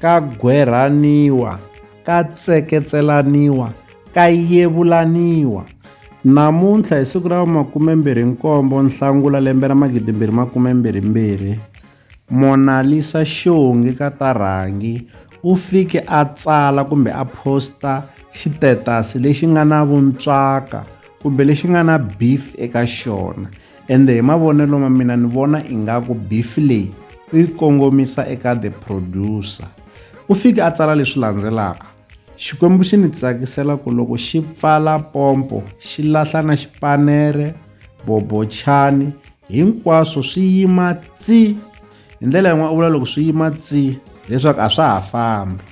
ka gwerhaniwa, ka tseketselaniwa, ka yevulaniwa. Namuntlha hi siku ra 27 Nhlangula lembe ra 2022, Monalisa Xongi ka ta Rhangi u fike a tsala kumbe a posta xitetasi lexi nga na vuntswaka kumbe lexi nga na beef eka xona. ende hi mavonelo ma mina ni vona ingaku bifi leyi u yi kongomisa eka the producer u fike a tsala leswi landzelaka xikwembu xi ni tsakisela ku loko xi pfala pompo xi lahla na xipanere bobochani hinkwaswo swi yima tsi Hi ndlela yin'wana u vula loko swi yima tsi leswaku a swa ha fambi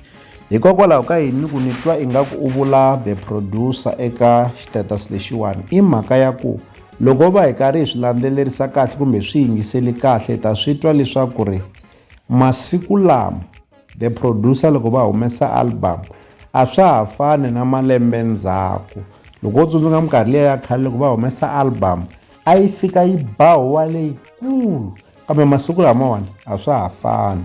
hikokwalaho ka yini ku ni twa ingaku u vula the producer eka status lexiwani i mhaka ya ku loko va hi karhi hi swi landzelerisa kahle kumbe hi swi yingiseli kahle hi ta swi twa leswaku ri masiku lama the producer loko va humesa album a swa ha fani na malembe ndzhaku loko wo tsundzuka minkarhi liya ya khale loko va humesa album a yi fika yi ba huwa leyikulu Kambe masiku lamawani a swa ha fani.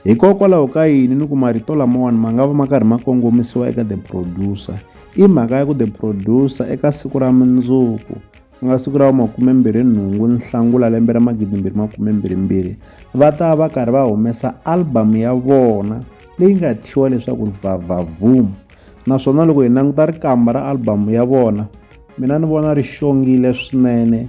Hikokwalaho ka yini ni ku marito lamawani ma nga va ma karhi ma kongomisiwa eka the producer? I mhaka ya ku the producer eka siku ra mundzuku ku nga siku ra makume-mbirhi-nhungu Nhlangula lembe ra magidi-mbirhi makume-mbirhi-mbirhi va ta va karhi va humesa album ya vona leyi nga thyiwa leswaku Vavavum naswona loko hi languta rikamba ra album ya vona mina ni vona ri xongile swinene